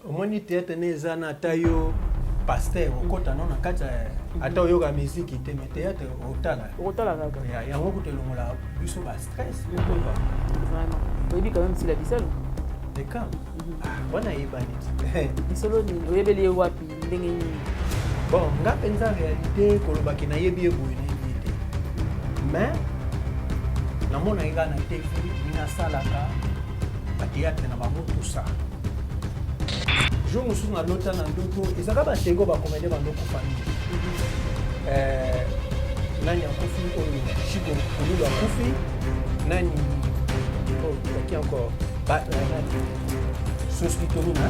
omoni theatre ne eza na ata yo pasteur okota no na kati ata oyoka miziki te me theatre otala okotala kaka yango kutu elongola biso ba stress okoba oyebi quand même sila bisalo ekam wana ayebani lisolo nini oyebeli ye wapi ndenge nini bon nga mpenza réalité kolobaki nayebi ye boye nayebi ye te mais namonaki nga na tv nasalaka bateatre na bango tusa jour mosusu nalota na ndoto ezaka batego bakomede bandokufa mingi eh, nani akufi oyo chiko kululu akufi nani oyo oh, yaki encore ba eh, nani sospitolina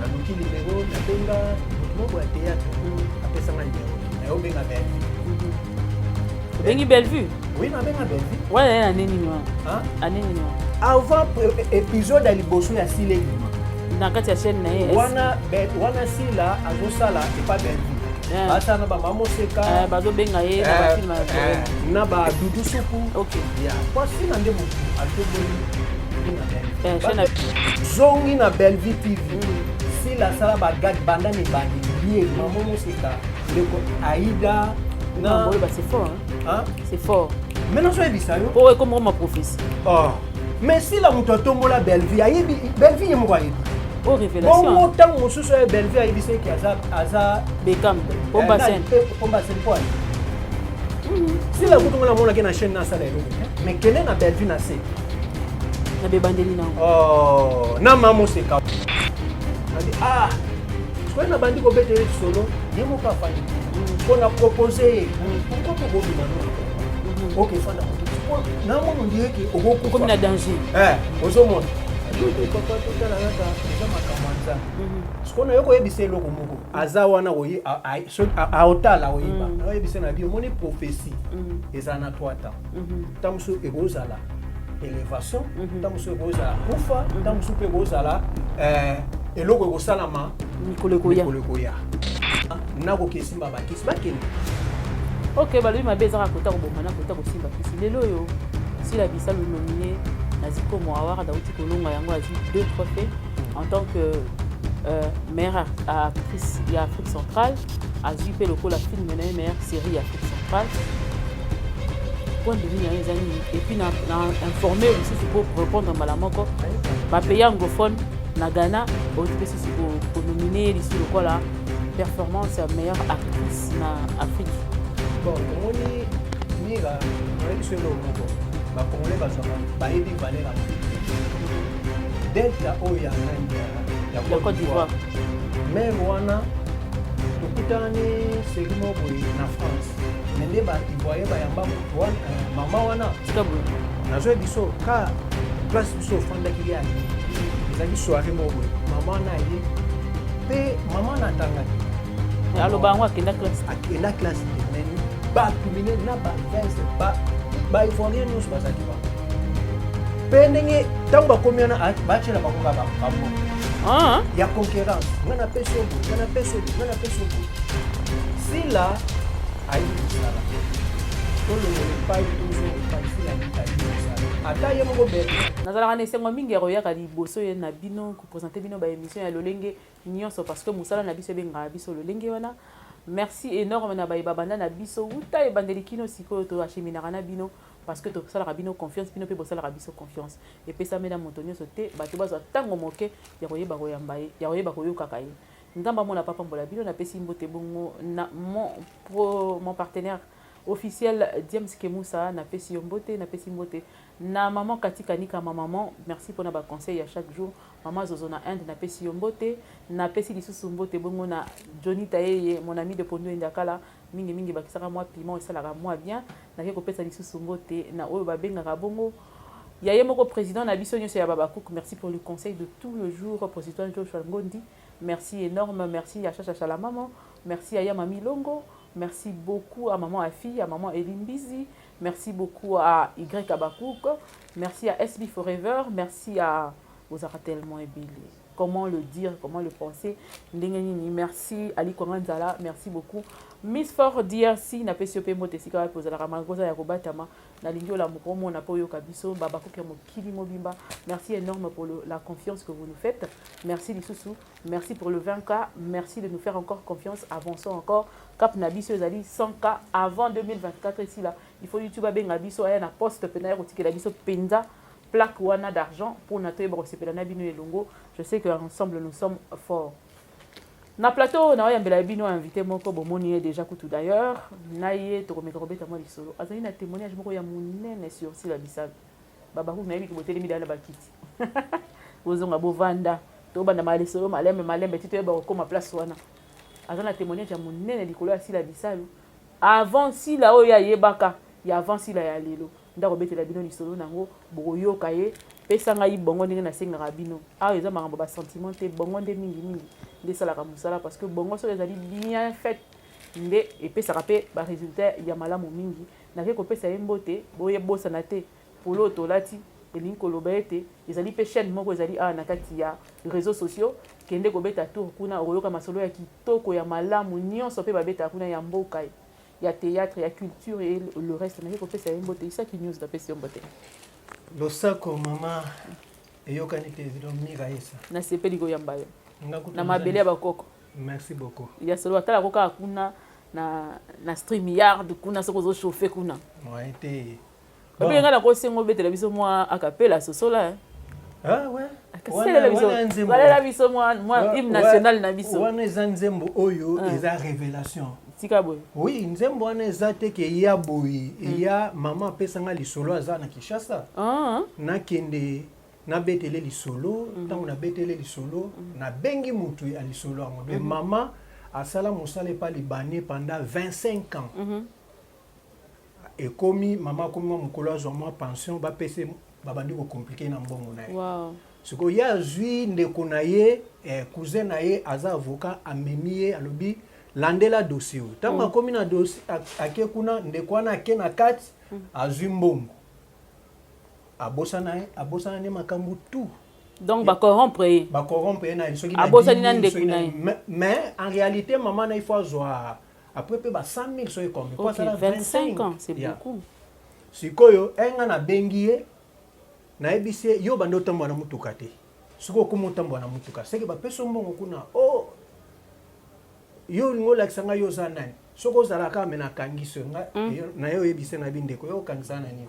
naluki nimero nabenga moto moko ya teyatre apesanga nimero naye obenga bellevue obengi bellevue oui nabenga bellevue wana ye ane nini wana ane nini wana avant épisode ya liboso ya sila elima na kati ya chaîne na ye wana wana sila azosala epa bellevue Eh. basa na bamamoseka eh, bazobenga ye na eh, bafilme na badudu suku ya kwasina nde motu atoboli Eh, zongi na bellevue tv sila asala bagade banda mibandi ye mama moseka ndeko aida na boye ba c'est fort hein c'est fort mais nazo yebisa yo po ekoma ma prophétie oh mais sila moto atombola bellevue ayebi bellevue ye moko ayebi oyo oh, révélation bongo ntango mosusu oyo bellevue ayebisa eke aza aza bekam pomba eh, sen pomba sen po sila kutu ngo namonaki na chaîne nasala eloko mais kende na bellevue na se na bebandeli na oh, na mamo seka andi ah soki nabandi kobetela lisolo ye moko afandi mpo mm. na propose ye mm. pourkoi tokobima no mm-hmm. oke fanda na mono ndire ke okokomi na danger eh, ozomona papa totala kaka eza makambo ya nzambe mm-hmm. sikoyo nayo koyebisa eloko moko aza wana aotala oyeba mm. oyebisa na bi omoni prophesie mm. eza na 3 temps ntango mosusu ekozala elevation ntango mosusu ekozala kufa ntango mosusu mpe ekozala eh, eloko ekosalama mikolo ekoya nakoki esimba bakisi bakende ok balobi mabe ezaka kota koboma na kota kosimba kisi lelo oyo sila bisalu nomine na zikomo awaka dauti kolonga yango azwi deux trophée en tant que euh, meilleure actrice ya afrique centrale azwi mpe lokola filme na ye meilleure série ya afrique centrale point de vue na ye eza nini epuis na informe lisusu mpo répondre mbala moko bapays anglophone na ghana oyo mpe susu konomine ye lisusu lokola performance ya meilleure actrice na afrique bon tomoni mira oyebi biso eloko moko bacongolais bazwaka bayebi valeur ya delta oyo ya meme ya cote d'ivoire meme wana tokutani seri moko boye na france me nde baivoye bayamba moto wana eh, mama wana nazwa biso ka place biso ofandaki ye aye ezalaki soire moko boye mama wana aye mpe mama wana atangaki aloba yango akenda classe akenda classe te me bato minene na bavese baivoirien nyonso bazalaki mpe ndenge ntango bakomi wana ah, batyela bango kaka bambo ah. ya concurrence nga na pesi obo nga na pesi obo nga na pesi obo sila ayebi kosala tolongola epai tozonga epai sila ayebi kosala ata ye moko bebe nazalaka na esengo mingi ya koyaka liboso ye na bino kopresente bino baémission ya lolenge nyonso parce que mosala na biso ebengaka biso lolenge wana merci énorme na baye babanda na biso uta ebandeli kino sikoyo toacheminaka na bino Parce que tosalaka bino confiance, bino mpe bosalaka biso confiance. Epesami na moto nyonso te, bato bazwa ntango moke ya koyeba koyamba ye, ya koyeba koyokaka ye. Nzambe amona papa mbola bino, napesi mbote bongo na mon, pro, mon partenaire officiel James Kemusa, napesi yo mbote, napesi mbote na maman Kati Kanika, ma maman, merci pona ba conseils ya chaque jour. Maman Zozo na Inde, napesi yo mbote, napesi lisusu mbote bongo na Johnny Tayeye, mon ami de Pondo Endakala, Mingi mingi bakisaka mwa piment esalaka mwa bien. Nake kopesa lisusu mbote na oyo babengaka bongo ya ye moko président na biso nyonso ya Babakouk. Merci pour le conseil de tout le jour, président Joshua Ngondi. Merci énorme, merci ya Chacha Chalamamo, merci ya Yama Milongo, merci beaucoup à maman Afi, à maman Elimbizi, merci beaucoup à Y Abakouk, merci à SB Forever, merci à Ozara tellement ebele. comment le dire comment le penser ndenge nini merci ali kwanga nzala merci beaucoup miss for drc napesi yo mpe mbote esika wapi ozalaka malgre oza ya kobatama nalingi olamuka omona mpe oyoka biso babakuki ya mokili mobimba merci énorme pour le, la confiance que vous nous faites merci lisusu merci pour le 20k merci de nous faire encore confiance avançons encore cap na biso ezali 100k avant 2024 esila il faut youtube abenga biso aya na poste mpe naye kotikela biso mpenza plaque wana d'argent pona toyeba kosepela na bino elongo je sais que ensemble nous sommes forts na plateau na oyambela bino invité moko bomoni ye déjà kutu d'ailleurs na ye tokomeka kobeta mwa lisolo azali na témoignage moko ya monene sur sila bisalu babakuku nayebi ke botelemi dala na bakiti bozonga bovanda tobanda ma lisolo malembe malembe ti toyeba kokoma place wana aza na témoignage ya monene likolo ya sila bisalu avant sila oyo ayebaka ya avant sila ya lelo nde akobetela bino lisolo nango bokoyoka ye pesa ngai bongo ndenge nasengaka bino awa eza makambo basentiment te bongo nde mingimingi nde esalaka mosala parce que bongo soki ezali bien fait nde epesaka mpe baresultat ya malamu mingi nake kopesa ye mbote boyebosana te polo oyo tolati elingi koloba ete ezali mpe chaîne moko ezali awa na kati ya réseaux sociaux kende kobeta tour kuna okoyoka masolo ya kitoko ya malamu nyonso mpe babetaka kuna ya mboka ye ya théâtre ya culture et le reste naye kopesa ye mbote isaki news napesi yo mbote losako mama eyokani te evidon mira yesa nasepeli koyamba yo na mabele ya bakoko merci beaucoup ya solo atalako kaka kuna na, na stream yard kuna soki ozochauffe kuna moyen te Bon. Nga na kosengo betela biso mwa akapela sosola hein. Ah ouais. Akaselela biso. Balela biso mwa mwa hymne national na biso. Wana eza nzembo oyo ah. eza révélation. Tika boye. Oui, nzembo wana eza te ke ya boye. Hmm. Ya mama apesa nga lisolo aza na Kinshasa. Ah. Nakende nabetele lisolo hmm. ntango nabetele lisolo hmm. nabengi motu ya lisolo yango de mama asala mosala epa libane pendant 25 ans mm -hmm. ekomi mama akomi mwa mokolo azwa mwa pension bapesa babandi kocomplike na mbongo na ye wow. sikoyo ye azwi ndeko na ye eh, cousin na ye aza avocat amemi ye alobi landela dossier oyo ntango mm. akomi na dossier ake kuna ndeko wana ake na kati mm. azwi mbongo abosana ye abosana ne makambo tout donc bacorrompre ye bacorrompre ye na ye soki abosani na ndeko na ye mais en réalité mama na ye fo azwa après pe ba 100000 soki combien okay, 25 ans c'est yeah. beaucoup sikoyo enga na bengi ye nayebisi ye yo banda otambwa na motuka te soki okoma otambwa na motuka seke bapesi mbongo kuna o oh, yo olingi olakisa ngai yo oza nani soki ozalaka me nakangisi yo mm. na yo oyebise na bindeko yo okangisa na nini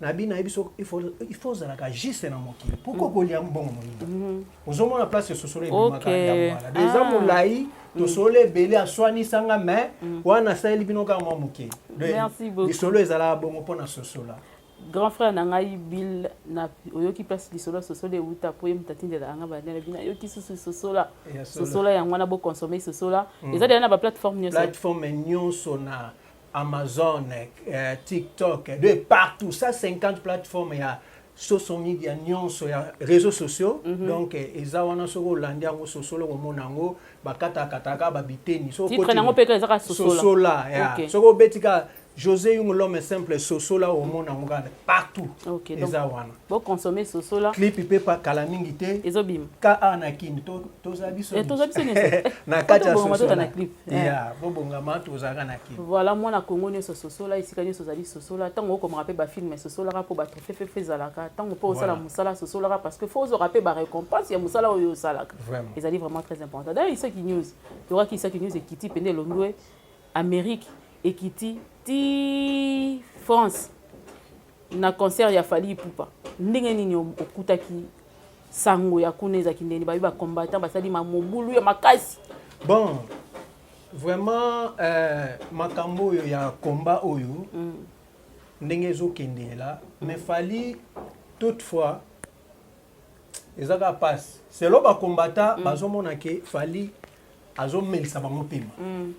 na bino ayebi so il faut il faut ozalaka juste na mokili pourquoi mm. kolia mbongo moninga mm-hmm. ozomona place esosolo ebimaka ya mwana de eza ah. molai mm. tosolo ebele aswanisanga mais mm. wana asaleli bino kaka mwa moke lisolo ezalaka bongo mpo na sosola grand frère na ngai bill na oyoki place lisolo sosola euta mpo ye moto atindelaka ngai bandela bino ayoki susu sosola sosola yango wana boconsomme sosola eza deya na baplateforme nyonso plateforme nyonso na Amazon, euh, TikTok, de partout, ça 50 plateformes ya soso media nyonso ya réseaux sociaux mm -hmm. donc eh, eza wana soki olandi yango sosolo komona yango bakatakataka babiteni sosola ya okay. soki obeti kaka josé yung l'homme simple sosola omona yango kaka partout okay, eza donc... wana Bo consommer sosola. Clip pepa kala mingi te. Ezo bim. Ka a na kin to to za biso. Et eh, to za biso nese. Na kati ya sosola. Na clip. Eh. Yeah, bo bonga ma to za na kin. Voilà moi na Congo nese sosola isika nese zali sosola. Tango ko mrape ba film sosola ka po ba trophée fe fe zalaka. Tango po osala musala sosola ka parce que faut zo rape ba récompense ya musala oyo osalaka. Vraiment. Ezali vraiment très important. D'ailleurs isaki news. Tu vois ki isaki news ekiti pende londwe Amérique ekiti ti France. Na concert ya Fally Ipupa, ndenge nini okutaki sango ya kuna ezalaki ndeni babi ba combattant basali ma mobulu ya makasi bon vraiment euh, makambo oyo ya combat oyo mm. ndenge ezokendela mm. mais fali toutefois eza kaka pasi selo bakombata mm. bazomona ke fali azomelisa bango mpema mm.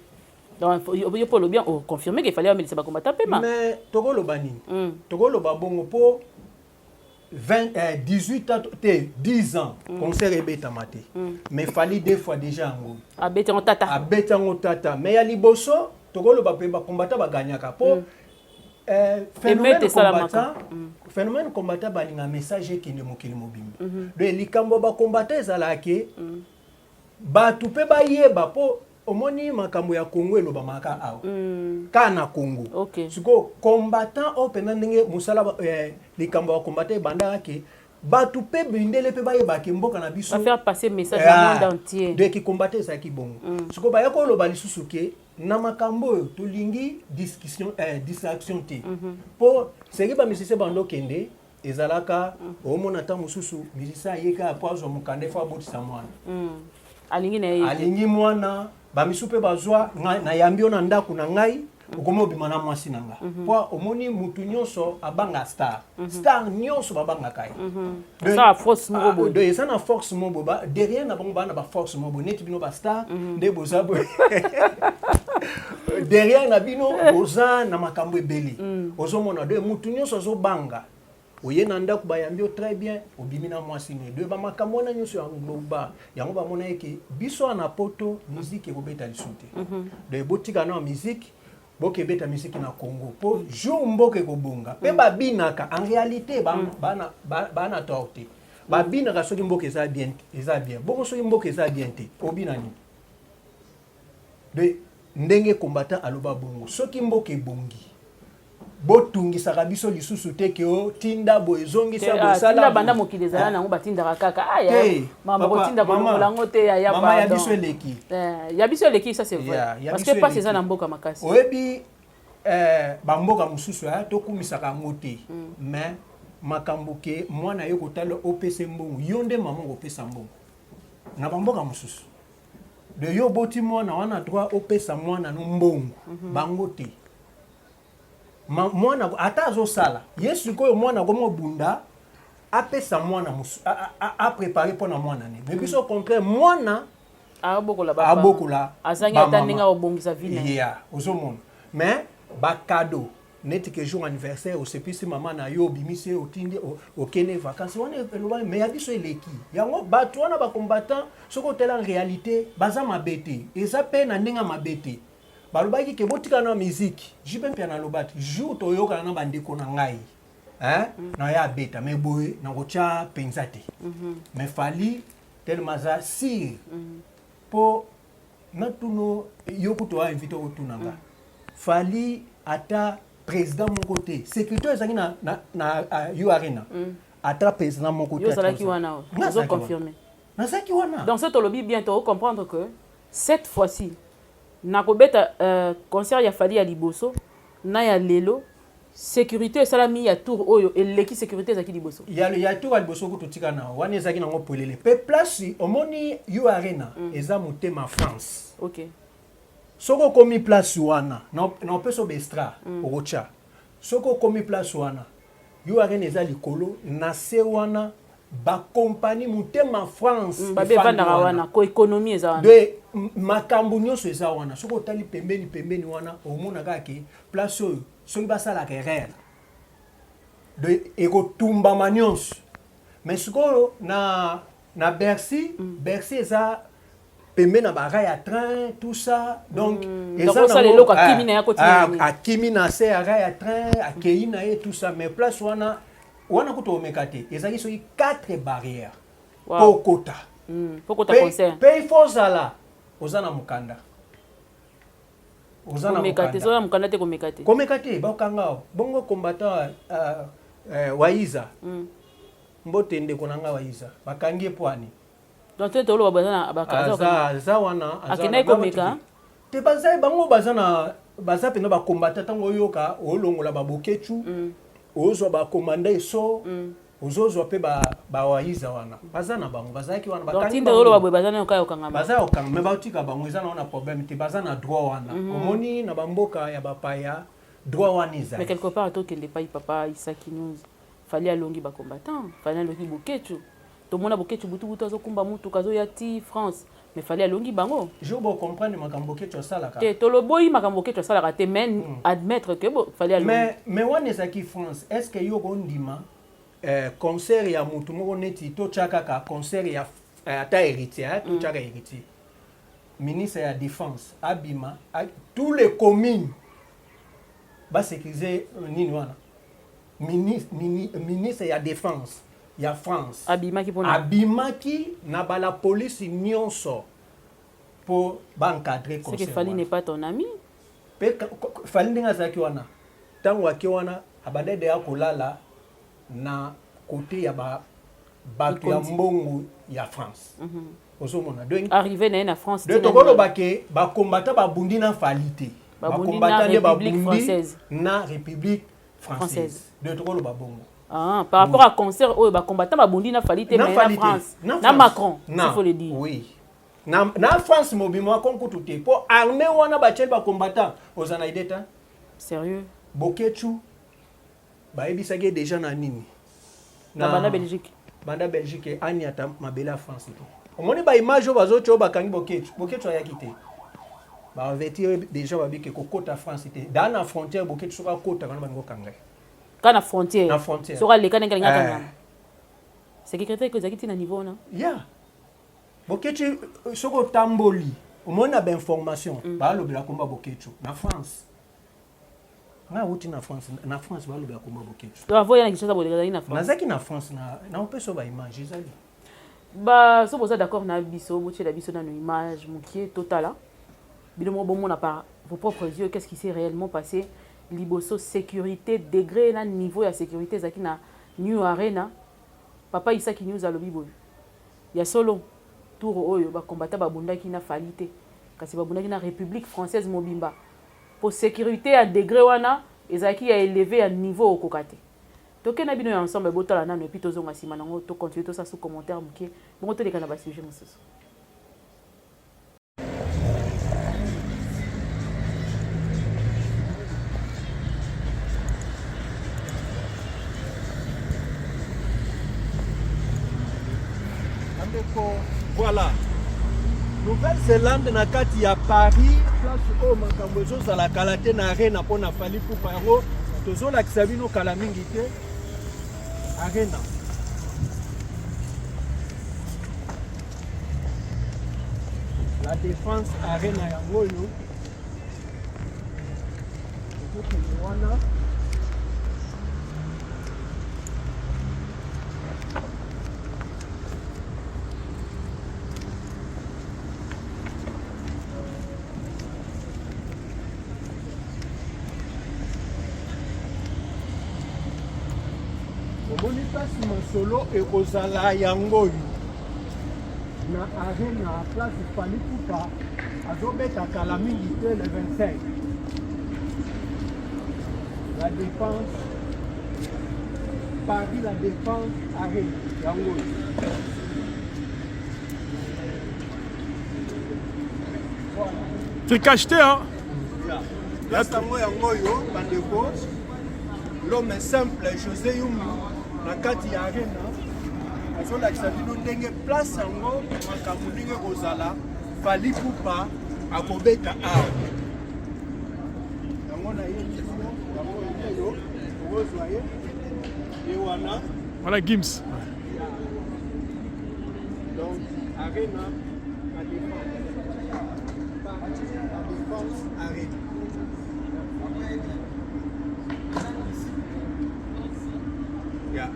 yo mpo olobi oconfirme ke fali amelisa bakombata mpema mais tokoloba nini mm. tokoloba bongo mpo 20, eh, 18 ans te 10 ans mm. concert ebetama te mm. mais fali deux fois déjà yango abeti yango tata abeti yango tata mais ya liboso tokoloba mpe bakombata baganyaka mpo mm. Eh, phénomène combattant mm. phénomène combattant balinga message ekende mokili mobimba mhm. donc likambo bacombattant ezalaka ke mm. bato mpe bayeba mpo omoni makambo ya congo elobamaka awa mm. ka na congo sikoyo combattant oyo mpenza ndenge mosala eh, likambo ya combattant ebandaka ke bato mpe mindele mpe bayeba ke mboka na biso faire passer message na monde entier de kikombata ezalaki bongo mm. sikoyo baya koloba lisusu ke na makambo oyo tolingi discussion eh, distraction te mhm. mpo mm -hmm. seki bamisise bando kende ezalaka mm. omona ntango mosusu misise ayeka mpo azwa mokanda efo abotisa mwana mm. alingi na ye alingi mwana bamisu mpe bazwa nayambi yo na ndako na ngai okomi obima na mwasi na nga mhm. po omoni mutu nyonso abanga star mhm. star nyonso babangaka ye mhm. ah, eza na force mo boye derrière na bango baa na baforce mo boye neti bino bastar nde boza boye derrière na bino boza na makambo ebele ozomona de mutu nyonso azobanga oye na ndako bayambi yo très bien obimi na mwasi no edoye bamakambo wana nyonso ya ngloba yango bamona yeke biso wana na poto miziki ekobeta lisu te mhm. donc botika na miziki boke ebeta miziki na congo mpo jour mboka ekobonga mpe mhm. babinaka en réalité mhm. bana tort te babinaka soki mboka eza bien eza bien bongo soki mboka eza bien te obina nini de ndenge combattant aloba bongo soki mboka ebongi botungisaka biso lisusu te ke oh, tinda boye ezongisa ah, bosala banda mokili ezala eh. nango batindaka kaka ah, mamango te ya biso eleki eh, ya biso eleki ça c'est vrai parce que mpasi eza na mboka makasi oyebi eh, bamboka mosusu tokumisaka yango te mm. mais makambo ke mwana ye kotala opesa mbongo yo nde mama okopesa mbongo na bamboka mosusu de yo oboti mwana wana droit opesa mwana no mbongo mm -hmm. bango te Ma, mwana ata azosala ye sikoyo mwana akomobunda apesa mwana aprépare mpo na mwana ne me biso au contraire mwana abokola azangi ata ndenge akobongisa vie ozomona mais bakado neti ke jour anniversaire osepisi mama na yo obimisi ye otindi okende vacances wana elobami mais ya biso eleki yango bato wana bacombattant soki otala réalité baza mabe te eza mpe na ndenge ya mabe te balobaki ke botika na miziki jipe mpe analoba te jour toyokana na bandeko na ngai hein? Mm. na ya abeta mais boye nakotya mpenza te mm-hmm. mais fali telema aza sire mpo mm. natuno yo kutu a invité otuna nga fali ata président moko te sécurité ezalaki na, na, na uh, u arena mm. ata président moko te ozalaki wana ozo confirmer nazalaki wana donc soki tolobi bien to comprendre que cette fois-ci nakobeta uh, concert ya fali ya liboso na ya lelo securite esalami ya tour oyo eleki securite ezalaki liboso ya, ya tour ya liboso kutu tika na wana ezalaki nango pwelele mpe place omoni yo arena mm. eza motema france okay. soki okomi place wana na opesa obestra mm. okotya soki okomi place wana yo arena eza likolo na se wana bakompani motema france mm, babe efandaka wana ko ekonomi eza wana de makambo nyonso eza wana soki otali pembeni pembeni wana omonaka ke Place oyo soki basalaka erreur de ekotumbama nyonso mais sikoyo na na Bercy mm. Bercy eza pembe na bara ya train tout ça donc mm. eza na lelo ka kimi na yako tina a kimi na se ya ya train a keyi na ye tout ça mais place wana wana kutu omeka te ezali soki quatre barrières wow. po kota mm. po kota concert pe fozala oza na mukanda oza na komeka te soki na mokanda te komeka te komeka te bakanga bongo combattant uh, uh, waiza mm. mbote ndeko na ngai waiza bakangi ye mpo ani donc te toloba baza na bakaza aza wana akendaki komeka te baza bango baza na baza mpenza bakombata ntango oyoka olongola babokechu mm. ozwa ba commanda eso ozozwa mpe bawaiza wana baza na bango bazalaki wana batangioloba boye baza nayoka yokanga baza yokanga me batika bango eza na wana problème te baza na droit wana mhm. omoni na bamboka ya bapaya droit wana ezali mais quelque part tokende epai papa isaki news fali alongi bacombattant fali alongi bokecu tomona boketshu butubutu azokumba mutuka azoya ti france mais fali alongi bango jour bo comprendre makambo boketshu asalaka te toloboyi makambo boketshu asalaka te mais mm. admettre que bo fali alongi mais mais wana ezalaki france est ce que yo okondima eh, concert ya mutu moko neti totya kaka concert ya eh, ata héritier eh, hmm. totyaka mm. héritier ministre ya défense abima a, tous les communes basécurise euh, nini wana ministre, mini, ministre ya défense ya France abimaki pona abimaki na bala police nionso po ba encadrer conseil. C'est que Fally n'est pas ton ami. Pe Fally ndenge azalaki wana tango ake wana abandaki deya kolala na kote ya ba bato ya mbongo ya France. Mm -hmm. ozomona arrivé na ye na france de tokoloba ke bakombata babundi na fali te bakombata nde babundi na république française de tokoloba bongo Ah, par rapport à concert oyo ba combattants ba bondi na Fally te mais na France na Macron il faut le dire oui na na France mobimo akonkutu te po armée wana ba chel ba combattants oza na idée ta sérieux Boketchu ba ebisaki déjà na nini na banda Belgique banda Belgique ani ata mabela France to omoni ba image oyo bazo tyo bakangi Boketchu Boketchu ayaki te ba avertir déjà babike kokota France te dans la frontière Boketchu soka kota kana bango kangai kaka na frontière soki aleka ndenge alingaka eh. nyama sekirite eko ezalaki ntina niveau wana ya boketi euh, soki otamboli omoni na bainformation mm. balobela komba boketi na france nga wuti na france na france balobela komba boketi nazaki na france naopesa baimage ezali Ba so boza d'accord na biso botiela biso nano image mukie totala bino moko bomona par vos propres yeux qu'est-ce qui s'est réellement passé liboso sécurité degré na niveau ya sécurité ezalaki na new arena papa isaki news alobi boye ya solo tour oyo bakombata babundaki na fali te kasi babundaki na république française mobimba mpo sécurité ya degré wana ezalaki ya eleve ya niveau okoka te Toke na bino ya ensemble botala nanu epi tozonga sima nango to continue tosala sous commentaire moke bongo toleka na ba sujet mosusu. Voilà. Nouvelle-Zélande na kati ya Paris place oyo makambo ezozala kala te na arena mpo na Lipupa yango tozolakisa bino kala mingi te arena la défense arena yango oyo ekokende wana omoni mpasi masolo ekozala yango oyo na arena place fali kupa azobeta kala mingi te le 25 la défense paris la défense arena yango oyo tricachete hein place yango yango oyo bandeko l'homme simple josé yumbu na kati ya arena azolakisa bino ndenge place yango makambo ndenge kozala fali pupa akobeta awa yango na ye yango oyo okozwa ye ye wana wana gims Donc, Arena, la défense. La défense, Arena. Yeah.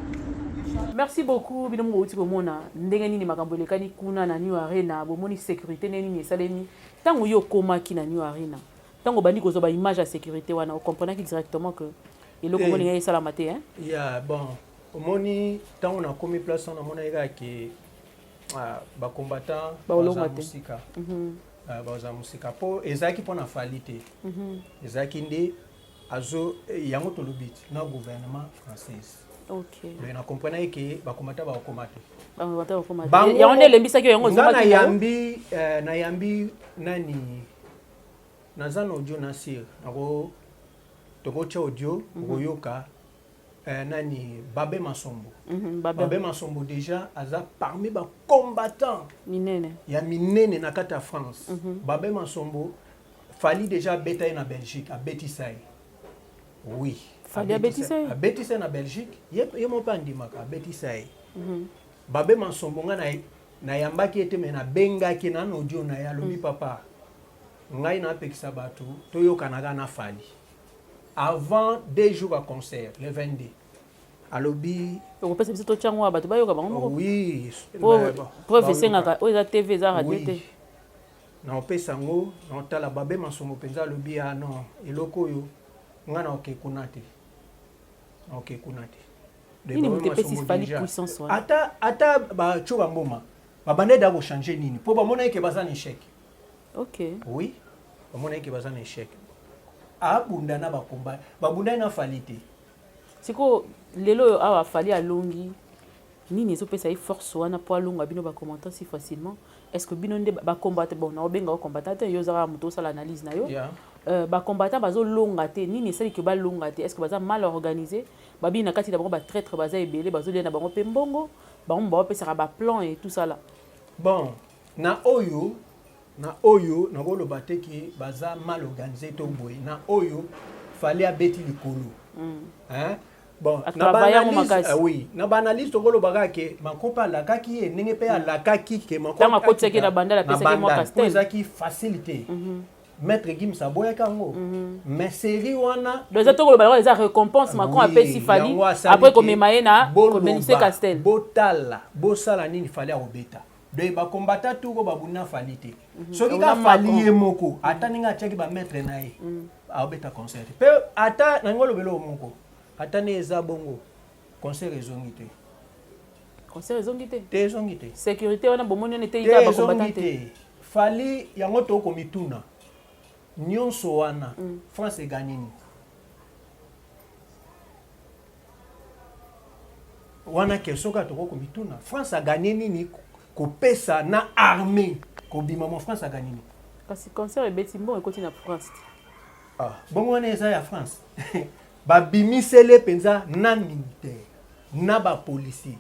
merci beaucoup bino moko outi komona ndenge nini makambo elekani kuna na new arena bomoni sécurité ndenge nini esalemi ntango yo okomaki na new arena ntango obandi kozwa baimage ya sécurité wana ocomprenaki directement que eloko moni ngai esalama te ya bon omoni ntango nakomi place wana namonaki kaka ke ah, bacombattant baza mosika mhm. ah, baza mosika mpo ezalaki mpo na fali te mhm. ezalaki nde azo eh, yango tolobi na gouvernement française mais na comprenaki ke bakomata bakokoma te yango nde elembisaki yango nga nayambi eh, nayambi nani naza na audio na sir nako tokotya audio mhm. okoyoka eh, nani babe masombo mm -hmm, babe. babe masombo deja aza parmi bacombattant minene ya minene na kati ya france mm -hmm. babe masombo fali deja abeta ye na belgique abetisa ye oui fali abetisa ye abetisa ye na belgique ye, ye moko mpe andimaka abetisa ye mm -hmm. babe masombo ngai na nayambaki ye te me nabengaki na na audio na ye alobi mm. papa ngai napekisa bato toyokanaka na fali avant deux jours ya concert le 22 alobi okopesa biso totya yango ya bato bayoka bango moko oui preuve esengaka oyo eza tv eza radio te naopesa yango naotala babe masongo mpenza alobi ya ah non eloko oyo ngai naoke kuna te naoke kuna te nini moto epesi fali puissance wana ata ata batyo bamboma babandaki da kochange nini mpo bamonaki ke baza na echec ok oui omonaki ke baza na échec abunda na bakomba babundai na fali te sikoyo lelo oyo awa fali alongi nini ezopesa ye force wana mpo alonga bino bacommentant si facilement est ce que bino nde bacombatant bon naobenga ocombatant te yo ozaka moto osala analyse na yo yeah. euh, bacombatant bazolonga te nini esali ke balonga te est ce que baza mal organisé babii na kati na bango batraitre baza ebele bazolia na bango mpe mbongo bango baopesaka baplan e tout sala bon Na oyo na oyo nakoloba te ke baza mal organise to boye na oyo fali abeti likolo mm. hein? bon na baanalyse ah, euh, oui na baanalyse tokoloba kaka ke mankopa alakaki ye ndenge mpe alakaki ke mankopaakotaki na banda ezaki facile te mm -hmm. maître gims aboyaki yango mm -hmm. mais série wana eza tokoloba yango eza récompense macron apesi fali après komema ye na bomenise castel botala bosala nini fali akobeta de ba combattant tout ko babunda fali te mhm. soki ka fali ye moko mhm. ata ndenge atiaki ba maître na ye mhm. aobeta concert mpe ata nange olobela oyo moko ata nde eza bongo concert ezongi te concert ezongi te te ezongi te sécurité wana bomoni wana eteyi kaka bacombattant te fali yango tokomituna nyonso wana mm. france eganini wana question kaka tokoki komituna france aganye nini kopesa na armée kobima mwa france aganye nini kasi concert ebeti mbongo ekoti na france te ah, bongo wana eza ya france babimisele mpenza na militaire na bapolisier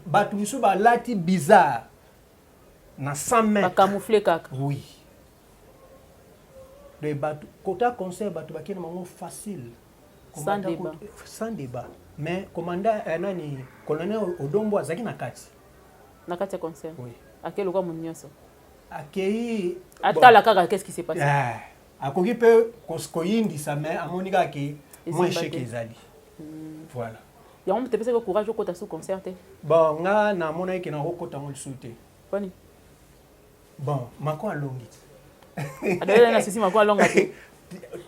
bato mosusu balati bizarre na 100 mètre bakamoufle kaka oui de bato kota concert bato bakende bango facile sans débat sans débat mais commandant euh, nani colonel odombo azalaki na kati na kati ya concert oui. akei lokola moto nyonso akei atala kaka qu'est ce qui se passe yeah. akoki mpe koyindisa mais amoni kaka ke mwa echec ezali hmm. voilà yango moto epesaki courage okota sous concert te bon nga namonaki ke nakokota yango lisusu te poni Bon, mako alongi. Adela na sisi mako alonga te.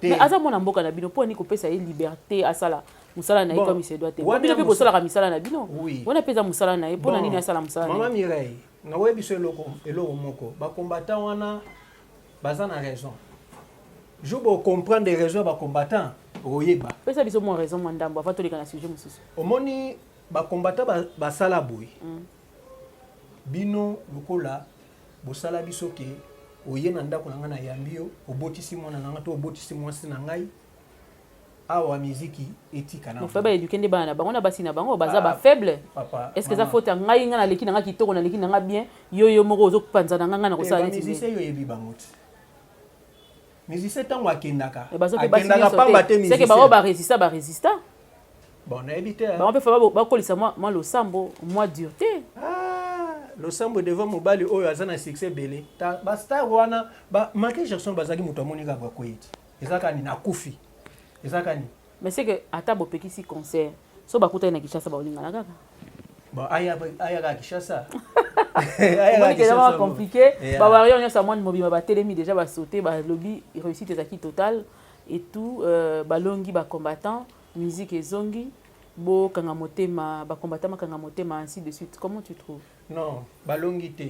Mais aza mwana mboka na bino poni kopesa ye liberté asala musala na ye comme se doit te. Bon, bino pe bosala ka misala na bino. Wana peza musala na ye pona nini asala musala. Maman Mireille, na webi so eloko eloko moko. Ba combattant wana baza na raison. Je bo comprendre des raisons ba combattant oyeba. Pesa biso mo raison mwa ndambo avant toleka na sujet mosusu. Omoni ba combattant basala boye. Mm. Bino lokola bosala biso ke oye na ndako na ngai nayambi yo, obotisi mwana na ngai to obotisi mwasi na ngai awa miziki etika na faible eduquer nde bana na bango na basi na bango baza ah, ba faible est ce que eza faute ya ngai ngai naleki na ngai kitoko naleki na ngai bien yo yo moko ozopanza na ngai ngai nakosala eh, neti yo oyebi bango ti musicien ntango akendaka akendaka pamba te musicien bango ba resista ba resista bon nayebi te bango mpe fa bakolisa mwa losambo mwa durete ah, losambo devant mobali oyo aza na succès ebele bastar wana michael jackson bazalaki moto amoni kaka bakoyeti eza kani nakufi eza kani Mais c'est que ata bopekisi concert so bakutani na Kinshasa baolingana kaka Bon, aya aya ka Kinshasa. Omoni ke zama compliqué. Ba warrior nyonso ya mwani mobima batelemi déjà ba sauter ba lobi réussite ezalaki totale et tout euh, balongi ba combattants musique ezongi bokanga motema ba combattants bakanga motema ainsi de suite comment tu trouves non balongi te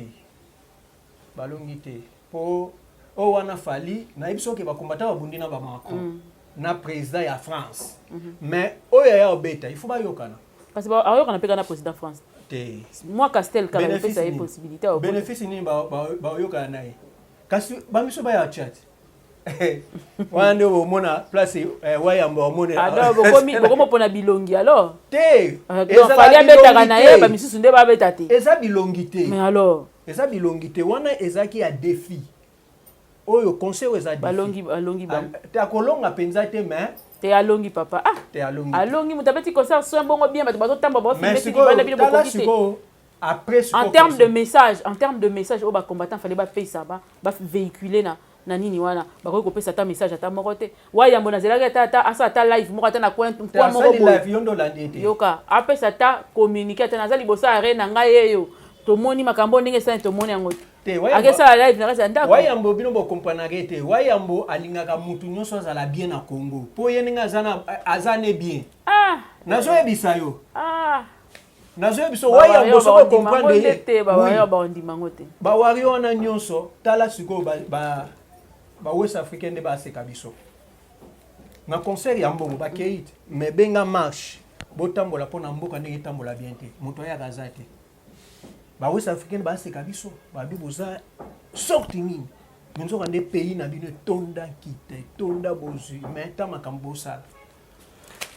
balongi te po oyo wana fali nayebi soki bakombata babundi na bamacron mm. na président ya france mm -hmm. mais oyo aya obeta il faut bayokana kasi aoyokana mpe kaka na président france te mwa castel kaka epesa ye possibilité bénéfice nini baoyokana na ye kasi bamiso baya chat wana nde omona place eh, wayamba omoneokomopona ah, bilongi alors te fali abetaka na ye bamisusu nde babeta te eza bilongi te mais alors eza bilongi te wana ezalaki ya defi oyo conseil oyo eza balongi balongi ba te akolonga mpenza te mais te alongi papa ah te alongi alongi moto abeti concert soin bongo bien bato bazotamba baofilmesibanda bino bokoki te après en termes de message en termes de message oyo bacombattant fale bapesa ba bavéhicule na na nini wana bakoki kopesa ata message ata moko te wa yambo nazelaki ata ata asala ata live moko ata na coin coin moko boye yoka apesa ata communique ata naza liboso ya reine na ngai yeyo tomoni makambo ndenge esali tomoni yango te akesala live na kati ya ndako wayambo bino bokompranake te wayambo alingaka motu nyonso azala bien na congo mpo ye ndenge aza na aza ne bien ah. nazoyebisa yo ah. nazoya biso wayango soko okomprendre ye bawario wana nyonso tala sikoyo bawest africain nde baseka biso na concert ya mbongo bakei te mais benga marche botambola mpo na mboka ndenge etambola bien te moto ayaka aza te bawest africain baseka biso babi boza sorti nini nzoka nde pays na bino etonda nkita etonda bozwi mais ta makambo bosala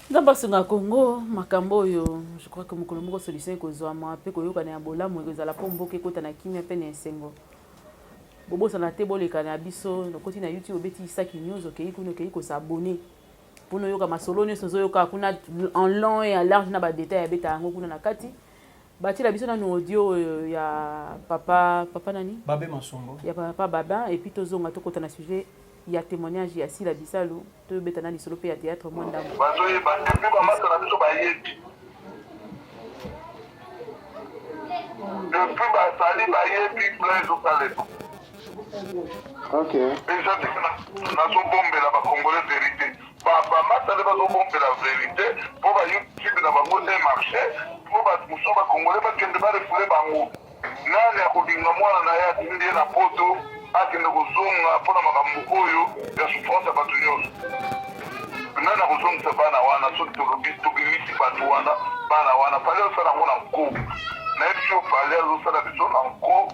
nzambe asunga congo makambo oyo je crois que mokolo moko solution ekozwama mpe koyokana ya bolamu ekozala mpo mboka ekota na kimia mpe na esengo bobosana te boleka na biso nokoti na youtube obeti isaki news okei kuna okei kosabone mpo noyoka masolo nyonso ozoyoka kuna en long et en large na badetail abeta yango kuna na kati Batiela biso nanu audio oyo ya papa papa nani? Babe Masombo. Ya papa Babin et puis tozonga tokota na sujet ya témoignage ya Sila Bisalu tobeta na lisolo mpe ya théâtre mwa ndambo. Bazoyeba te mpe bamata na biso bayebi. Depuis basali bayebi plan ezosalema. Ok. Eza te nazobombela bakongole verite. Papa masta nde bazo bombela verite po ba youtube na bango e marche po batu mosusu ba congolais bakende ba refoule bango nani akobinga mwana na ye atindi ye na poto akende kozonga mpo na makambo oyo ya souffrance ya bato nyonso nani akozongisa bana wana soki tolobi tobimisi bato wana bana wana pale osala yango na nko nayebi yo pale azosala biso na nko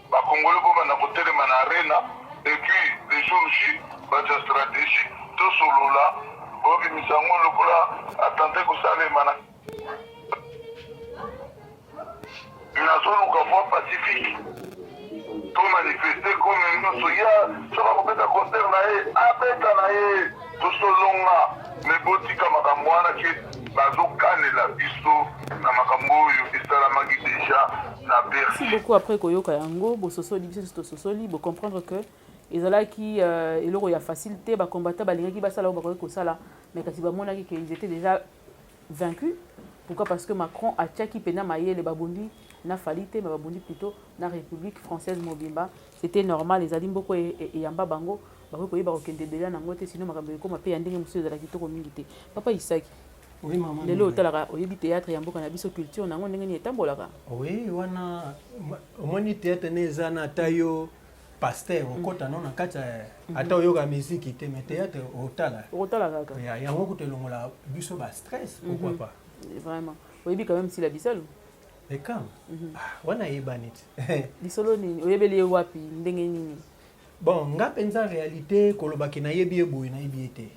Ba congolais bo banda ko telema na arena et puis le jour J ba tia strategie to solola bo bimisa yango lokola attentat ko salema na nazo luka voie pacifique to manifester comme nyoso ya soka ko beta concert na ye abeta na ye Tozo longa mais botika makambo wana ke bazo kanela biso na makambo oyo esalamaki deja na Bercy. Merci beaucoup après koyoka yango bososoli biso tososoli bo comprendre que ezalaki euh, eloko ya facile te bacombatant balingaki basala oyo bakoki kosala mais kasi bamonaki ke ils étaient déjà vaincu pourquoi parce que macron atiaki mpena mayele babundi na fali te me babundi plutôt na république française mobimba c'était normal ezali mboko e, e, eyamba bango bakoki koyeba kokende ebele na yango te sino makambo ekoma mpe ya ndenge mosusu ezala kitoko mingi te papa isaki lelo otalaka oyebi théâtre ya mboka na biso culture na yango ndenge nini etambolaka oui wana omoni théâtre ne eza na ata yo pasteur okota no na kati mhm. ata oyoka miziki te mais théâtre otala otala kaka ya yango kutu elongola biso ba stress mhm. pourquoi pas vraiment oyebi quand même sila bisalu ekam mhm. ah, wana ayebani ti lisolo nini oyebeli ye wapi ndenge nini bon nga mpenza réalité kolobaki nayebi ye boye nayebi ye te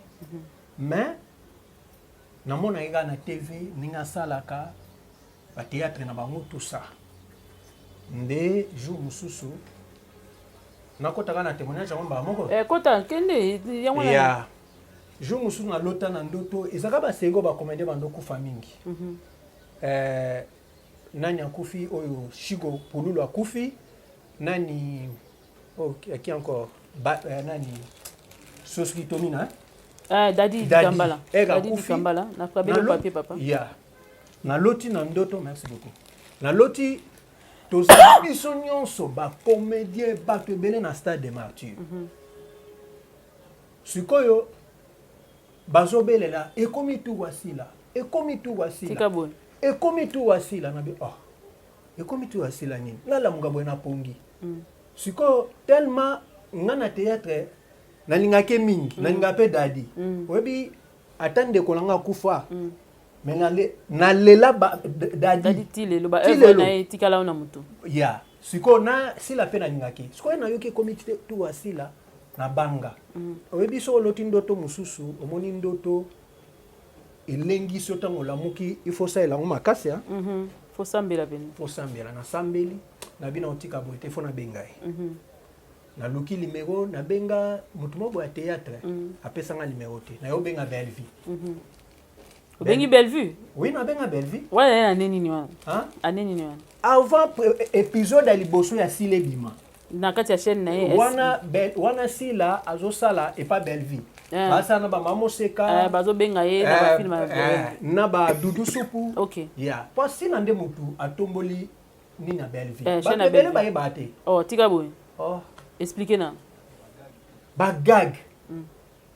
mais namonaki kaka na tv ndenge asalaka ba théâtre na bango tout ça nde jour mosusu nakotaka na témoignage yango mbala moko eh, kota kende yango ya jour mosusu nalota na ndoto ezalaka basengo bakomende bando kufa mingi mm -hmm. eh, nani akufi oyo shiko pululu akufi nani oh, qui encore ba, eh, nani soski tomina eh? Eh, dadi dikambala eh, dadi dikambala na kabelo papier papa ya yeah. naloti na ndoto merci beaucoup naloti toza biso nyonso bacomédien bato ebele na stade de martyr mm -hmm. sikoyo bazobelela ekomi tu wasila ekomi tu wasila ekomi tu wasila nabi oh ekomi tu wasila nini nalamuka boye napongi mm. sikoyo tellement nga na théâtre nalingaki mingi mm. nalingaka mpe dadi mm. oyebi ata ndeko na nga akufa mm. me nalela dadi ti lelo baevre na ye etikala yo na motu ya sikoyo na sila mpe nalingaki sikoyo nayoki ekomi tuwa sila na banga mm. oyebi soki oloti ndoto mosusu omoni ndoto elengisi yo ntango olamuki ifo osalela yango makasi ya mhm. fosambela pene fosambela nasambeli na bino otika boye te fo nabenga ye mhm. naluki limero nabenga motu moko ya théâtre mm. apesanga limero te naye obenga bellevue mm -hmm. obengi bellevue oui nabenga bellevue wana ye ane nini wana ane nini wana avant épisode ya liboso ya sila ebima na kati ya chaîne na ye wana, be, wana sila azosala epa bellevue eh. basala na bamama moseka eh, bazobenga ye na eh, bafilme eh, na badudu supu okay. yeah. po sila nde motu atomboli ni na Bellevue. Eh, ba belle ba yeba te. Oh, tika boye. Oh. Expliquer na. Ba gag. Mm.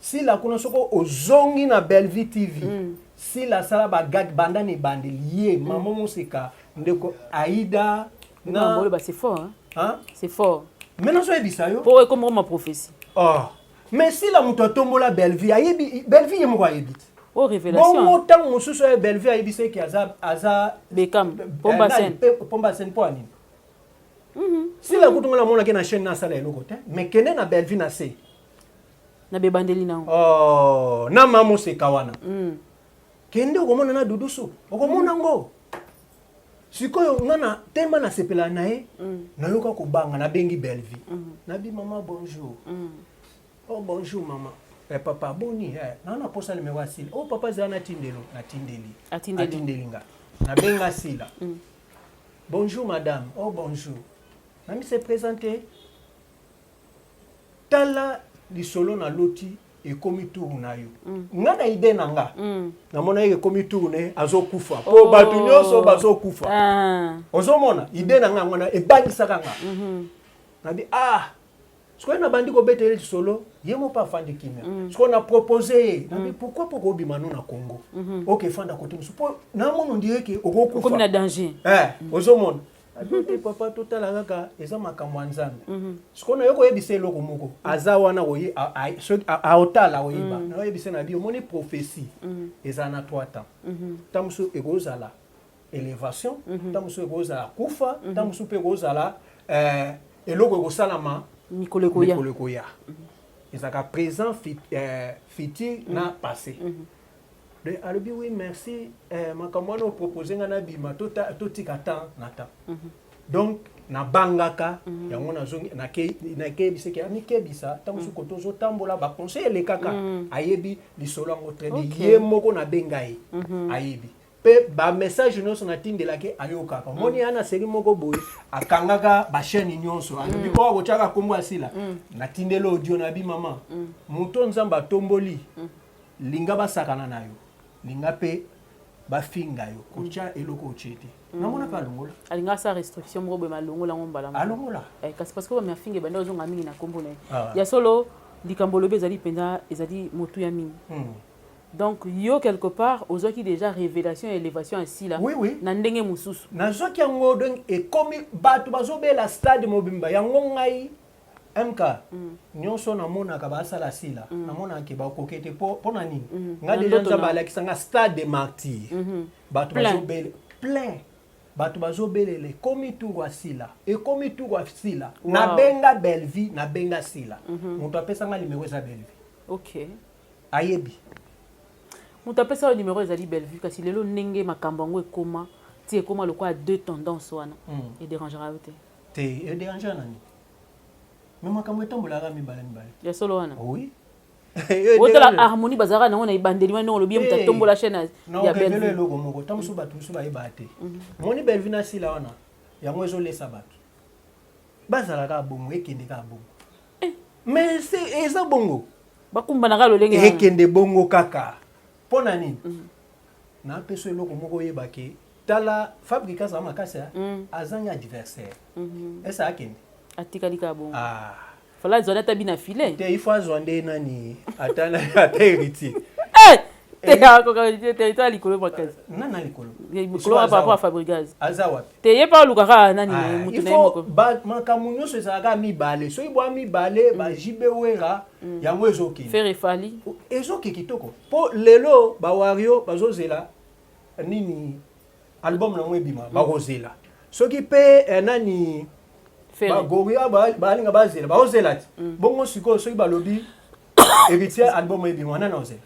Si la kono soko ozongi na Bellevue TV. Mm. Si la sala ba gag banda ne bande lié mm. maman musika ndeko Aida na. Ba bole ba c'est fort hein. Hein? C'est fort. Maintenant soyez bisayo. Po ekomoko ma prophétie. Oh. Mais sila mutu atombola Bellevue ayebi Bellevue ye moko ayebi te. Oh révélation. Bongo tango mosusu ya Bellevue ayebi se ki aza aza Beckham Pomba Sen. Pomba Sen po anini? Mhm. Sila kutu ngona mona ke na chaîne na sala eloko te mais kende na Bellevue na se. Na bebandeli na. Oh, na mamo seka wana. Mm. kende okomona na dudusu okomona mm. ngo sikoyo nga na telema nasepela na ye mm. nayoka kobanga nabengi bellevie mm. nabi mama bonjour mm. oh bonjour mama eh, papa boni eh, naa naposa limero ya sila oh papa zala natindelo natindeli atindeli nga nabenga sila mm. bonjour madame oh bonjour nami se présente tala lisolo na loti ekomi tour na yo mm. nga na ide na nga mm. namona ye ekomi tour na ye azokufa mpo oh. bato nyonso bazokufa ah. ozomona ide na nga yango na ebangisaka nga mm -hmm. nabi ah sikoyo nabandi kobeta ye lisolo ye moko afandi kimia mm. sikoyo na propose ye nabi mm. pourquoi po kobima no na congo mm -hmm. oke fanda kote mosusu mpo namono ndie ke okokufa na danger eh, mm. ozomona ado te papa totala kaka eza makambo ya nzambe mhm. sikoyo nayo koyebisa eloko moko aza wana aotala oyeba mhm. nayoyebisa na bi omoni prophetie mhm. eza na trois temps ntango mosusu ekozala élévation ntango mosusu ekozala kufa ntango mosusu mpe ekozala eh, eloko ekosalama mikolo ekoya ezalaka présent euh, futur na passé de alobi oui merci eh, makambo wana opropose ngai nabima totika temps na temps mm -hmm. donc nabangaka mm -hmm. yango nazongi nakeyebisaki na amikebisa ntango mm -hmm. soko tozotambola baconseil elekaka mm -hmm. ayebi lisolo yango traine okay. ye moko nabenga ye mm -hmm. ayebi mpe bamessage nyonso natindelaki ayokaka mm. omoni mm. ana seri moko boye akangaka bachaine nyonso alobi mm. oyo kotyaka nkombo asila mm. natindeli audio na bi mama mm. moto nzambe atomboli mm. Linga basakana na yo, linga pe bafinga yo, kotya mm. eloko otye te. Mm. Namonaka alongola. Alinga sa restriction moko boye malongola ngo mbala moko. Alongola. Eh, kasi parce que ba mafinga ebanda ozonga mingi na kombo na ye. Ah. Ya solo likambo olobi ezali mpenza ezali motu ya mingi. Mm. donc yo quelque part ozwaki déjà révélation ya élévation ya sila oui, oui. na ndenge mosusu nazwaki yango donc ekomi bato bazobela stade mobimba yango ngai MK nionso namonaka basala sila mm. namonaka ke bakoke te mpo na nini mm. nga deja nzambe alakisa nga stade de martyr mm-hmm. bato bazobele plein bato bazobelela ekomi turu ya sila ekomi turu ya sila nabenga bellevie nabenga sila mm-hmm. moto apesa nga limero eza bellevie okay. ayebi moto apesa yo limero ezali bellevue kasi lelo ndenge makambo yango ekoma ti ekoma lokola deux tendance wana mm. ederangera yo te te e derangea nani me makambo etambolaka mibale mibale ya solo wana oui otala harmonie bazalaka nango na ebandeli wana ndongo lobi moto atombola chaîne ya belvelo eloko moko ntango mosusu bato mosusu bayebaka te mhm. moni belvi na sila wana yango ezolesa bato bazalaka bongo ekende kaka bongo eh. mais eza bongo bakumbanaka lolenge ekende bongo kaka mpo na nini mhm. napesa eloko moko oyebake tala fabrika aza makasi mm. azangi adversaire mhm. esa akende atikali kaka bongo ah. fala azwani ata bina filet te ifo azwa nde nani ata ata héritier eh! territoire likolo makasi nana likolo likolo par rapport à fabrigaz aza wapi te ye mpe alukaka nani ah, motu na ye moko makambo nyonso ezalaka mibale soki bwa mibale mm. ba jb wera mm. yango ezokende fere fali ezokende kitoko mpo lelo bawario bazozela nini album nango ebima mm. bakozela soki mpe eh, nani bagoria balinga bazela bakozela ti mm. bongo sikoyo soki balobi héritier album ebima nani ozela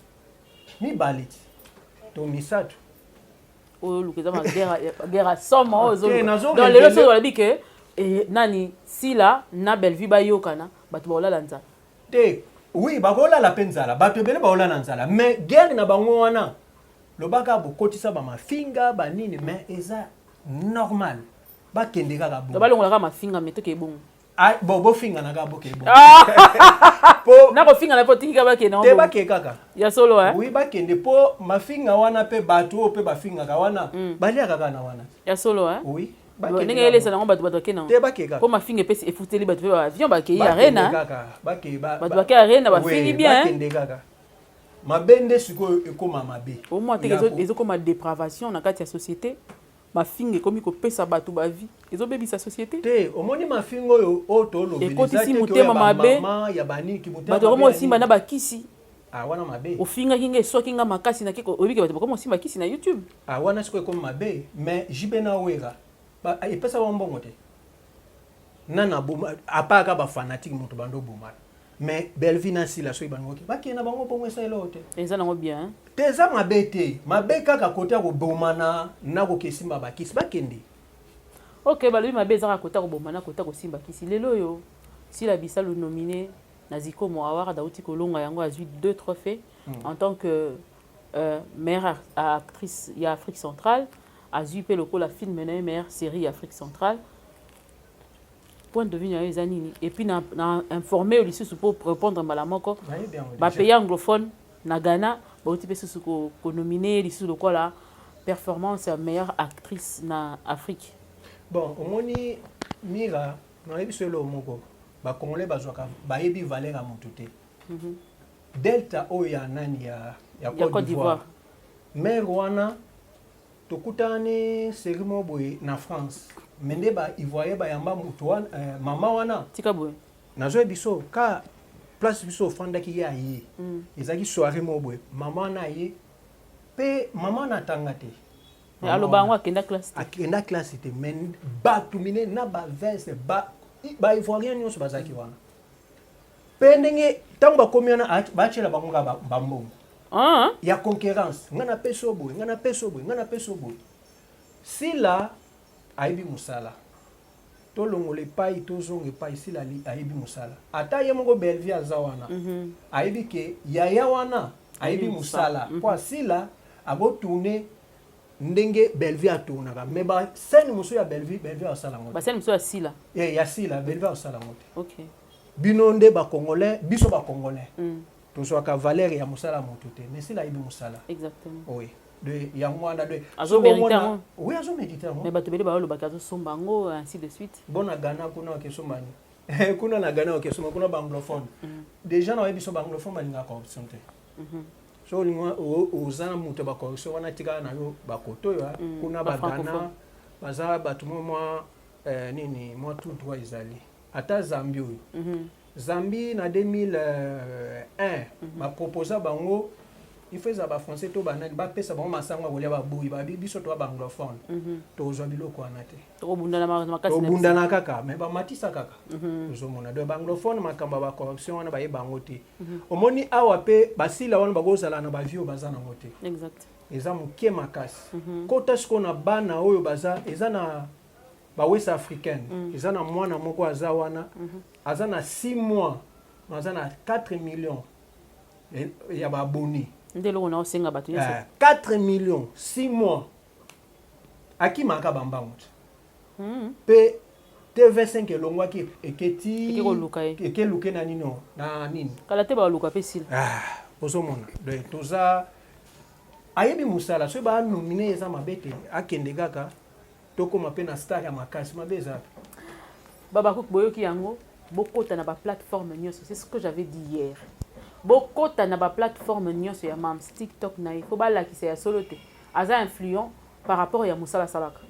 mibale ti to misato oyo oluka eza magera soma oyo ezolelo lelo soki balobi ke eh, nani sila na bellevue bayokana bato bakolala nzala te oui bakolala mpe nzala bato ebele bakolala nzala mais guerre na bango wana Loba kaka bokotisa ba mafinga ba nini mais eza normal bakende kaka bongo. Balongola kaka mafinga mais toke bongo. Ah, bo bofinga na kaka boke bongo. Ah! po na kofinga na po tiki kaka bakende te bake kaka. Ya solo eh. Oui bakende po mafinga wana pe bato oyo pe bafingaka wana mm. baliaka kaka na wana. Ya solo eh. Oui. ndenge elesa nango bato bato bakei nangopo mafinga epesi efuteli bato mpe baavion bakei arena bato bakei arena bafingi bien mabe nde sikoyo ekoma mabe omwa te ezokoma depravation na kati ya société mafinga ekomi kopesa bato bavi ezobebisa société te omoni mafinga oyo oyo tolobekotisi motema mabe bato bakomi kosimba na bakisi ah, wana mabe ofingaki nga eswaki nga makasi nake oyebike bato bakomi kosimba kisi na youtube ah, wana sikoyo ekomi mabe mais jb na wera epesa bango mbongo te nana apaka bafanatike moto bando obomana mais Bellevue na Sila soki bango ke bakende na bango bongo esa eloko te eza nango bien hein? te eza mabe te mabe kaka kote ya kobomana na kokesimba bakisi bakende ok balobi mabe ezaka kote ya kobomana na kote ya kosimba kisi lelo oyo Sila Bisalu nomine na Zikomo Award auti kolonga yango azwi deux trophées mm. en tant que euh, meilleure actrice ya Afrique centrale azwi mpe lokola film na ye meilleure série ya Afrique centrale point de vue na yo eza nini et puis na, na informe yo lisusu mpo répondre mbala moko bapays anglophone na ghana bauti mpe susu konomine ko ye lisusu lokola performance ya meilleure actrice na afrique bon omoni mira nayebi so eloo moko bacongolais bazwaka bayebi valeur ya motu te mm -hmm. delta oyo ya nani ya, ya, ya cote d'ivoire mare wana tokutani série moko boye na france me nde ba ivoirien bayamba moto wana eh, mama wana tika boye nazoya biso ka place biso ofandaki ye aye mm. ezalaki soirée moko boye mama wana aye mpe mama wana atanga te aloba yango akenda classe te akenda classe te me bato mine na baveste baivoirien nyonso bazalaki wana Pe ndenge tango bakomi wana batiela bango nga bambongo ah. ya concurrence nga na peso boye nga na peso boye nga na peso boye sila ayebi mosala tolongola epai tozonga epai sila ayebi mosala ata ye moko belvie aza wana mm -hmm. ayebi ke yaya wana ayebi mosala mpo mhm. asila akotourne ndenge Bellevue a tournaka mais ba scène mosusu ya Bellevue Bellevue asala ngo ba scène mosusu ya Sila eh ya Sila Bellevue asala ngo te okay bino nde ba congolais biso ba congolais mm. tozwaka valeur ya mosala ya moto te mais Sila ayebi mosala exactement oui de yango wana de azo mérite yango oui azo mérite yango mais bato bele ba lobaka azo somba yango ainsi de suite bona Ghana kuna wa kesomba ni kuna na Ghana wa kesomba kuna ba anglophone mm. déjà na yebi so ba anglophone balingaka corruption te Mhm. so olingi oza na moto ya bacorrection wana tika na yo bakoto oyo ah, mm, kuna bagana baza bato mwa mwa eh, nini mwa tout droit ezali ata zambi oyo mhm. zambi na 2001 euh, mhm. baproposa bango il faut eza bafrançais to banani bapesa bango masango ya kolia baboyi babi biso toa baanglophone mhm. tozwa biloko wana te tobundana kaka mai bamatisa kaka mhm. ozomona donc baanglophone makambo ya bacorruption wana baye bango te omoni awa mpe basila wana bakozala na bavio baza nango te eza moke makasi mhm. kota sikoyo na bana oyo baza eza na bawest africaine mhm. eza na mwana moko aza wana mhm. aza na 6 mois aza na 4 million eh, ya baabonné nde eloko na osenga bato nyonso 4 eh, million 6 mois akimaka bambango te mpe TV5 elongwaki eke ti eke luke na nino na nini kala te baluka mpe sila ah, ozomona donc toza ayebi mosala soki baanomine eza mabe te akende kaka tokóma mpe na star ya makasi mabe eza babakuk boyoki yango bokota na baplateforme nyonso c'est ce que j'avais dit hier bokota na baplateforme nyonso ya mams tiktok na ye mpo balakisa ya solo te aza influent par rapport ya mosala asalaka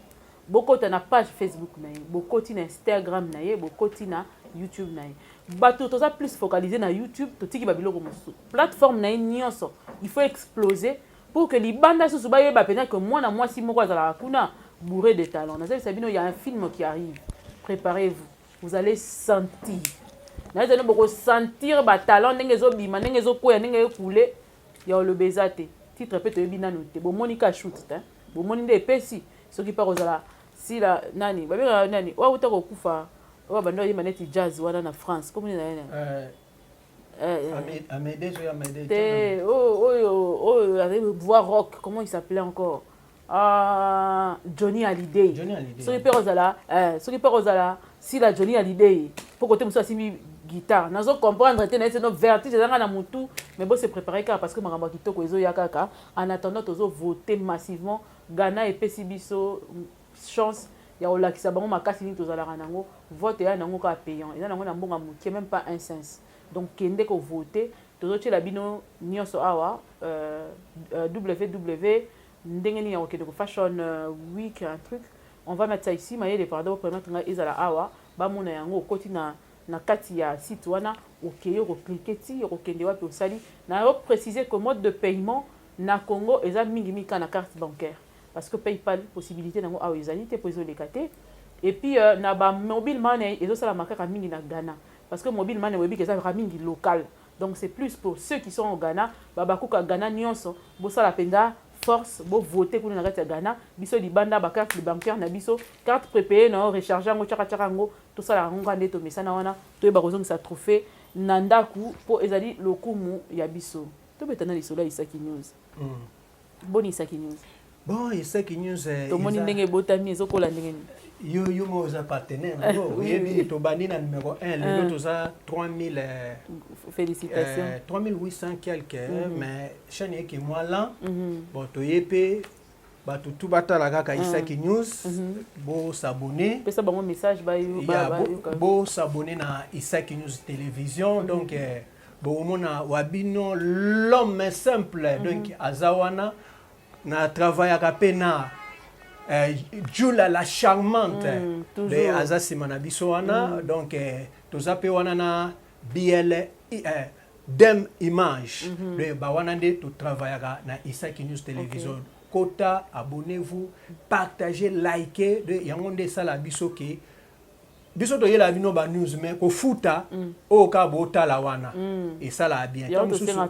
bokota na page facebook na ye bokoti na instagram na ye bokoti na youtube na ye bato toza plus focalise na youtube totiki babiloko mosusu plateforme na ye nyonso il faut explose pour que libanda susu bayeba mpenza ke mwana mwasi moko azalaka kuna bourre de talent nazalisa bino ya un film qui arrive préparez vous vous allez sentir nazali bokosentir batalent ndenge ezobima ndenge ezokweya ndenge ekule ya oloba eza te titre mpe toyebi nanu te bomoni ka shut te bomoni nde epesi soki mpe akozala sila nani babengaka nani oyo auta kokufa oyo abanda oyemba neti jazz wana na france komoni na ye nani eh, eh, eh. te oh, oyo oyo azali voix rock comment il s'appelait encore ah, johnny halidey soki mpe kozala soki mpe kozala sila johnny halidey mpo kote mosusu asimbi guitare nazo comprendre te naye seno vertige ezanga na motu mais bo se prépare kaka parce que makambo ya kitoko ezoya kaka En attendant tozo voter massivement Ghana epesi biso chance ya kolakisa bango makasi nini tozalaka nango vote eya nango kaka payant eza nango na mbonga moke meme pas un cents donc kende ko voter tozotyela bino nyonso awa euh, euh, ww ndenge nini ya kokende ko fashion euh, week un truc on va mettre ça ici mayele pardon permettre ngai ezala awa bamona yango okoti na na kati ya site wana okei oko cliquer ti okokende wapi osali na yo préciser que mode de paiement na Congo eza mingi mingi kaka na carte bancaire parce que PayPal possibilité nango awa ezali te mpo ezoleka te et puis euh, na ba mobile money ezosalama kaka mingi na Ghana parce que mobile money oyebi ezalaka mingi local donc c'est plus pour ceux qui sont au Ghana babakuka Ghana nyonso bosala mpenza force bo voter kuna na kati ya Ghana biso libanda ba carte bancaire na biso carte prépayée na yo recharge yango chaka chaka yango tosalaka yango kaka nde tomesana wana toyeba kozongisa trophée na ndako mpo ezali lokumu ya biso tobeta na lisolo ya isaki news mm. boni isaki news bon isaki news eh, tomoni ndenge ebotami ezokola ndenge nini yo yo moko oza partenaire eh, yo oyebi tobandi na numero 1 lelo eh. toza 3000 félicitations 3800 quelque mhm. mais chaîne eke mwa lan mhm. bon toye mpe bato tu batala kaka mm. isaki news mm-hmm. bosabone pesa bango message bosabone na isaki news télévision mm-hmm. donc eh, bokomona wa bino l'homme simple mm-hmm. donc aza wana na travaillaka mpe na eh, jula la charmante mm, eh, aza nsima na biso wana mm. donc toza mpe wana na bl Dem image mm -hmm. donc bawana nde to travaillaka na Isaki News Television okay. kota abonnez-vous partagez likez donc yango nde esala biso ke biso toyela bino ba news mais kofuta mm. oyo kaka botala wana mm. esala bien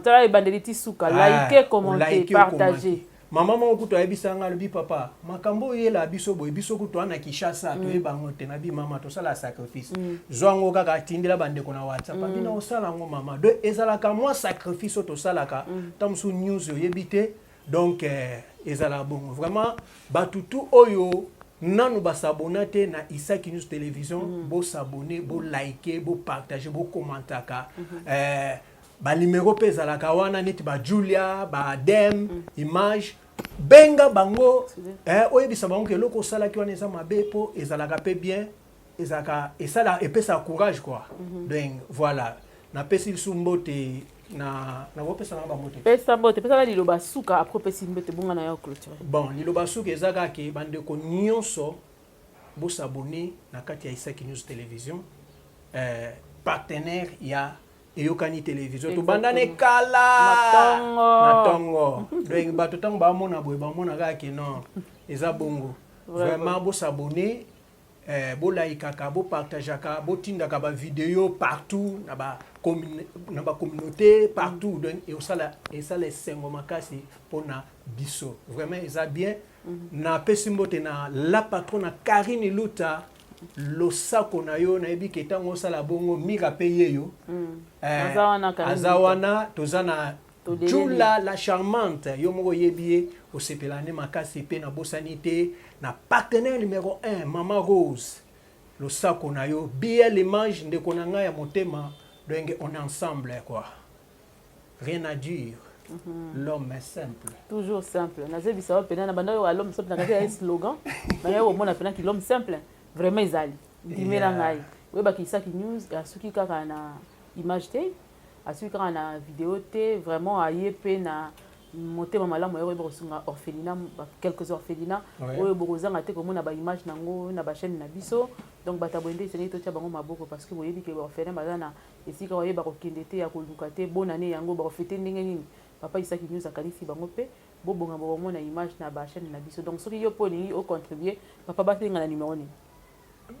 tala ebandeli ti suka ah, like commenter partager Maman moko kutu ayebisa nga alobi papa makambo oyo yela biso boye biso kutu ana Kinshasa mm. toyeba yango te nabi mama tosala sacrifice mm. zwa yango kaka atindela bandeko na WhatsApp mm. abina osala yango mama de ezalaka mwa sacrifice oyo tosalaka mm. ta mosusu news oyebi te donc eh, ezala bongo vraiment bato tu oyo nanu basabona te na isaki news télévision mm. bosabone bolike bopartage bokomantaka mm -hmm. eh, ba numero mpe ezalaka wana neti ba julia ba adem mm. image benga bango eh, oyebisa bango ke eloko osalaki wana eza mabe mpo ezalaka mpe bien ezalaka esala epesaka courage quoi mm -hmm. donc voilà napesi lisu mbote na nakopesa na bango te pesa mbote pesa na liloba suka apres opesi mbote bonga na yo clôture bon liloba suka eza kaka ke bandeko nyonso bosabone na kati ya isaki news télévision eh, partenaire ya eyokani televizio tobandane kala na tongo donc bato ntango bamona boye bamona kaka ke non eza bongo vraiment bosabone eh, bolaikaka bopartageaka botindaka bavideo partout na ba na bacommunauté partout mm. donc eosala esala esengo makasi mpona biso vraiment eza bien mm -hmm. napesi mbote na la patrona karine luta losako na yo nayebi ke ntango osala bongo mika mpe ye yo mm. eh, aza wana toza na jula la charmante yo moko oyebi ye osepela nde makasi mpe nabosani te na partenaire numero 1 mama rose losako na yo bl image ndeko na ngai ya motema donc on est ensemble quoi rien à dire Mm -hmm. l'homme est simple toujours simple nazebisa yo mpena na banda oyo alhomme simple nakaki ya slogan naye komona mpena ki l'homme simple vraiment ezali ndimela ngai oyebaki isaki news asuki kaka na image te asuki kaka na video te vraiment aye mpe na motema malamu yako yeba kosunga orphelina quelques orphelina oyo bokozanga te komona baimage na yango na bachaîne na biso donc bato ya boye nde esengeli totya bango maboko parce que boyebi ke baorphelin baza na Esika waye bakokende te ya koluka te bonne annee yango bakofete ndenge nini papa Isaki News akanisi bango mpe bobonga bokomona image na ba chaîne na biso donc soki yo mpe olingi o contribuer papa basenga na numero nini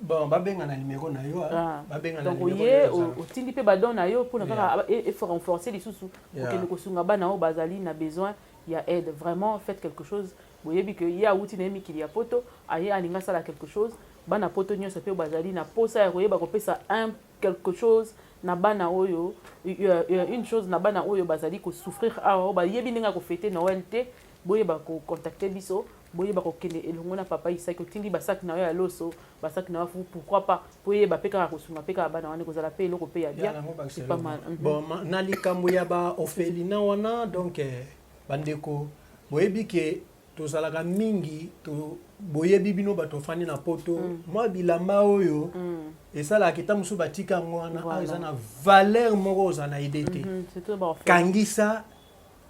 bon babenga na numero na yo ah. Ah. babenga donc oye otindi mpe badon na yo mpona kaka erenforce lisusu okende kosunga bana oyo bazali na besoin ya aide vraiment faites quelque chose boyebi ke ye awuti na ye mikili ya poto aye alingi asala quelque chose bana poto nyonso mpe bazali na mposa ya koyeba kopesa un quelque chose na bana oyo une chose na bana oyo bazali ko souffrir awa oyo bayebi ndenge ya ko fete Noël te boyeba ko contacter biso boyeba kokende elongo na papa isaki otindi basaki na yo ya loso basaki na yo fufu pourquoi pas mpo eyeba mpe kaka kosunga mpe kaka bana wana ekozala mpe eloko mpe ya bien mhm. na likambo ya baofelina wana donc eh, bandeko boyebi ke tozalaka mingi to boyebi bino bato bafandi na poto mm. mwa bilamba oyo mm. esalaka kita mosusu batika yango wana awa eza na valeur moko ozala na ide te mm -hmm. kangisa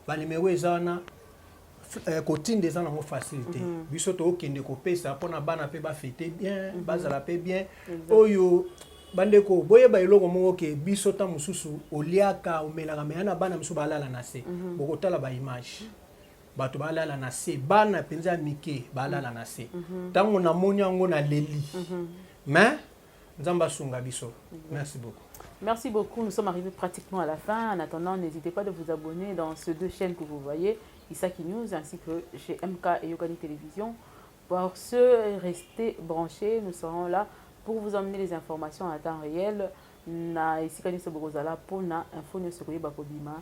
banimero eza wana eh, kotinda eza nango facile te mm -hmm. biso tokokende kopesa mpo na bana mpe bafete bien mm -hmm. bazala mpe bien exactly. oyo bandeko boyeba eloko moko ke biso ntango mosusu oliaka omelaka meya na bana mosusu balala na se mm -hmm. bokotala baimage bato balala na se bana mpenza ya mike balala na se mhm. ntango namoni yango na leli mhm. mais nzambe asunga biso mhm. merci beaucoup Merci beaucoup. Nous sommes arrivés pratiquement à la fin. En attendant, n'hésitez pas de vous abonner dans ces deux chaînes que vous voyez, Isaki News ainsi que chez MK et Yogani Télévision. Pour ceux, restez branchés. Nous serons là pour vous emmener les informations à temps réel. Na Isika News Bokozala pour na info news koyeba kobima.